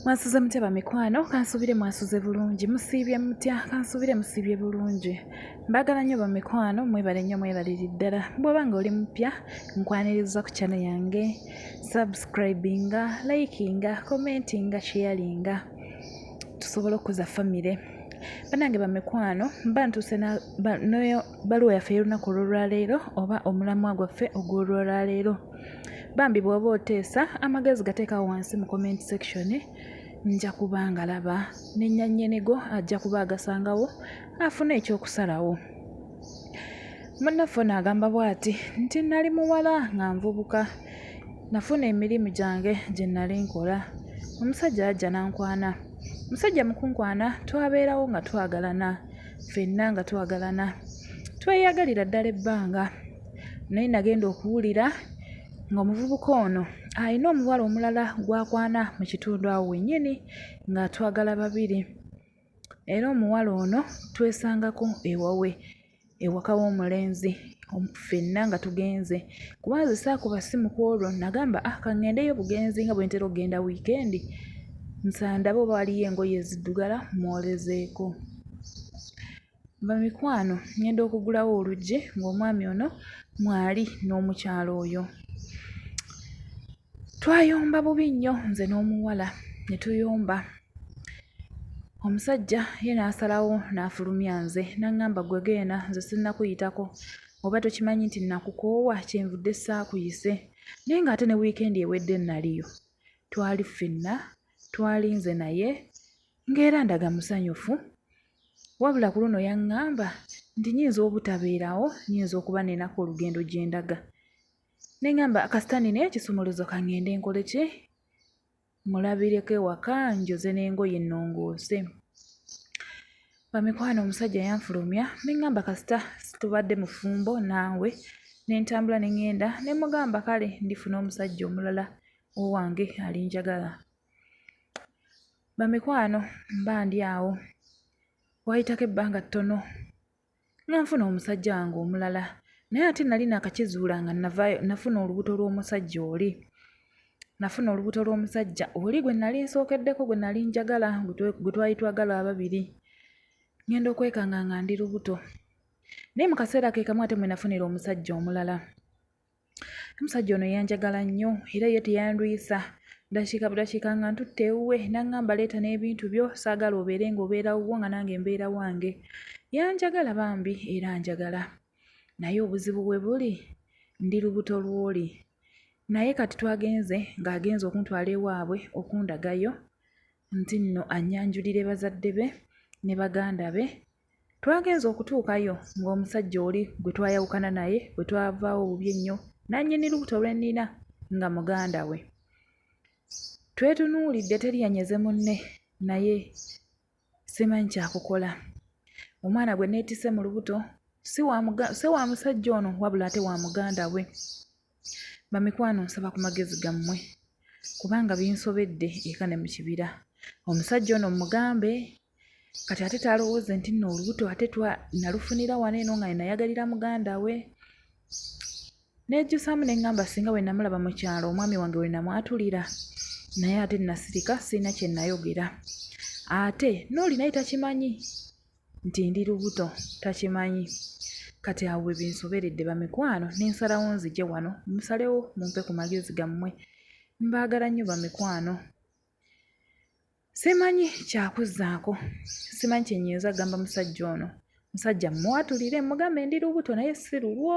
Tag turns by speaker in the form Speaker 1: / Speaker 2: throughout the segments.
Speaker 1: mwasuze mutya bamikwano kansubire mwasuze bulungi musiibye mutya kansubire musiibye bulungi mbagala nnyo bamikwano mwebale nnyo mwebaliri ddala bwoba nga oli mupya nkwaniriza ku kyano yange subscribinga likinga commentinga sharinga tusobole okuza famire banange bamikwano mba ntuuse noyo baluwa yaffe y'olunaku olwolwaleero oba omulamwa gwaffe ogwolwolwaleero Bambi bwoba oteesa amagezi gateekawo wansi mu comment section nja kuba nga laba nenyannyinigo ajja kuba agasangawo afune ekyokusalawo. Munnaffe ono agamba bw'ati nti nali muwala nga nvubuka nafuna emirimu gyange gye nali nkola omusajja yajja n'ankwana omusajja mu kunkwana twabeerawo nga twagalana ffenna nga twagalana tweyagalira ddala ebbanga naye nagenda okuwulira ng'omuvubuka ono alina omuwala omulala gw'akwana mu kitundu awo wennyini ng'atwagala babiri era omuwala ono twesangako ewawe ewaka w'omulenzi ffenna nga tugenze kuba nze saakuba ssimu ku olwo nagamba ah ka ŋŋendeyo bugenzi nga bwe ntera okugenda wiikendi nsandabe oba waliyo engoye eziddugala mwolezeeko Bamikwano ngenda okugulawo oluggi ng'omwami ono mwali n'omukyalo oyo. Twayomba bubi nnyo nze n'omuwala ne tuyomba. Omusajja ye n'asalawo n'afulumya nze n'aŋŋamba ggwe genda nze sinnakuyitako oba tokimanyi nti nakukoowa kyenvudde saakuyise naye ng'ate ne wiikendi ewedde naliyo. Twali ffenna twalinze naye ng'era ndaga musanyufu wabula ku luno yaŋŋamba nti nyinza obutabeerawo nyinza okuba nenako olugendo gye ndaga ne ŋŋamba kasita nina ekisumuluzo ka ŋŋende nkole ki mulabireko ewaka njoze n'engoye nnongoose bamikwano omusajja yanfulumya ne ŋŋamba kasita tubadde mufumbo naawe ne ntambula ne ŋŋenda ne mugamba kale ndifuna omusajja omulala owange alinjagala Bamikwano mba ndi awo, waayitako ebbanga ttono nga nfuna omusajja wange omulala naye ate nali naakakizuula nga navaayo nafuna olubuto lw'omusajja oli. Nafuna olubuto lw'omusajja oli gwe nali nsookeddeko gwe nali njagala gwe twali twagala ababiri, ng'enda okwekanga nga ndi lubuto. Naye mu kaseera ke kamu ate mwe nafunira omusajja omulala. omusajja ono yanjagala nnyo era ye teyandwisa dakiika budakiika nga ntutte ewuwe n'aŋŋamba leeta n'ebintu byo saagala obeere ng'obeera wuwo nga nange mbeera wange yanjagala bambi era njagala naye obuzibu we buli ndi lubuto lw'oli naye kati twagenze ng'agenze okuntwala ewaabwe okundagayo nti nno annyanjulire bazadde be ne baganda be Twagenze okutuukayo ng'omusajja oli gwe twayawukana naye bwe twavaawo bubi ennyo nannyini lubuto lwe nnina nga muganda we. Twetunuulidde teri yanyeze munne naye simanyi kya kukola. Omwana gwe neetisse mu lubuto si wa musajja ono wabula ate wa muganda we. Bamikwano nsaba ku magezi gammwe kubanga binsobedde eka ne mu kibira. Omusajja ono mugambe kati ate talowooze nti nno olubuto ate twa nalufunira wano eno nga nenayagalira muganda we nejjusaamu ne ŋŋamba singa bwe namulaba mu kyalo omwami wange we namwatulira naye ate nasirika sirina kye nayogera ate n'oli naye takimanyi nti ndi lubuto takimanyi kati awo bwe binsoberedde bamikwano ne nsalawo nzije wano musalewo mumpe ku magezi gammwe mbaagala nnyo bamikwano simanyi kyakuzzaako simanyi kye nnyinza gamba musajja ono musajja mmuwatulire mugambe ndi lubuto naye si lulwo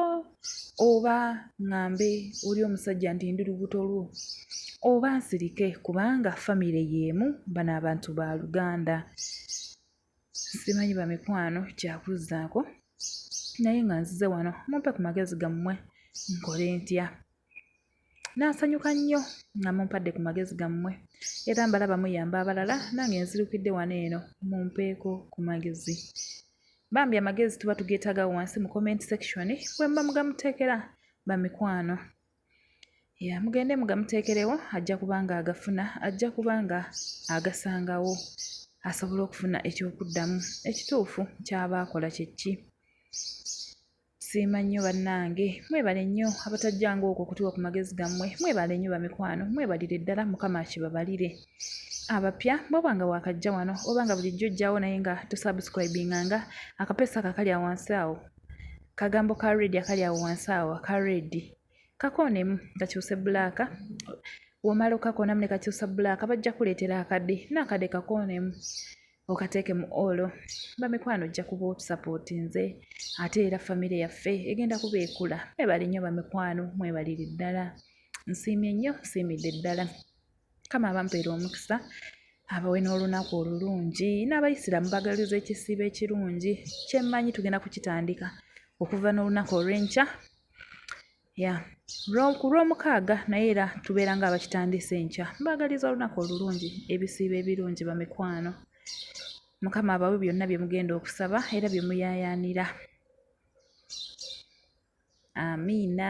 Speaker 1: oba ŋŋambe oli omusajja nti ndi lubuto lwo oba nsirike kubanga famire y'emu bano abantu ba luganda simanyi bamikwano kyakuzzaako naye nga nzize wano mumpe ku magezi gammwe nkole ntya n'asanyuka nnyo nga mumpadde ku magezi gammwe era mbalaba muyamba abalala nange nzirukidde wano eno mumpeeko ku magezi bambi amagezi tuba tugeetaga wansi mu comment section bwe mba mugamuteekera bamikwano ya mugende mugamuteekerewo ajja kuba nga agafuna ajja kuba nga agasangawo asobole okufuna ekyokuddamu ekituufu kyaba akola kyekki siima nnyo bannange mwebale nnyo abatajjanga okwo okutuwa ku magezi gammwe mwebale nnyo bamikwano mwebalire ddala mukama akibabalire abapya bwoba nga wakajja wano oba nga bulijjo ojjawo naye nga tusubscribinga nga akapeesa kakali awansi awo kagambo ka redi akali awo wansi awo aka redi kakoonemu kakyuse bulaaka womala okakoonamu nekakyusa bulaaka bajja kuleetera akade naakade kakoonemu okateeke mu olo bamikwano ojja kuba otusapooti nze ate era famire yaffe egenda kuba ekula mwebali nnyo bamikwano mwebaliri ddala nsiimye nnyo nsiimidde ddala kama abampeera omukisa abawe n'olunaku olulungi n'abayisiraamu bagaliza ekisiibo ekirungi kyemmanyi tugenda kukitandika okuva n'olunaku olw'enkya ya ku lw'omukaaga naye era tubeera nga abakitandise enkya mbaagaliza olunaku olulungi ebisiibo ebirungi bamikwano mukama abawe byonna bye mugenda okusaba era bye muyayaanira amiina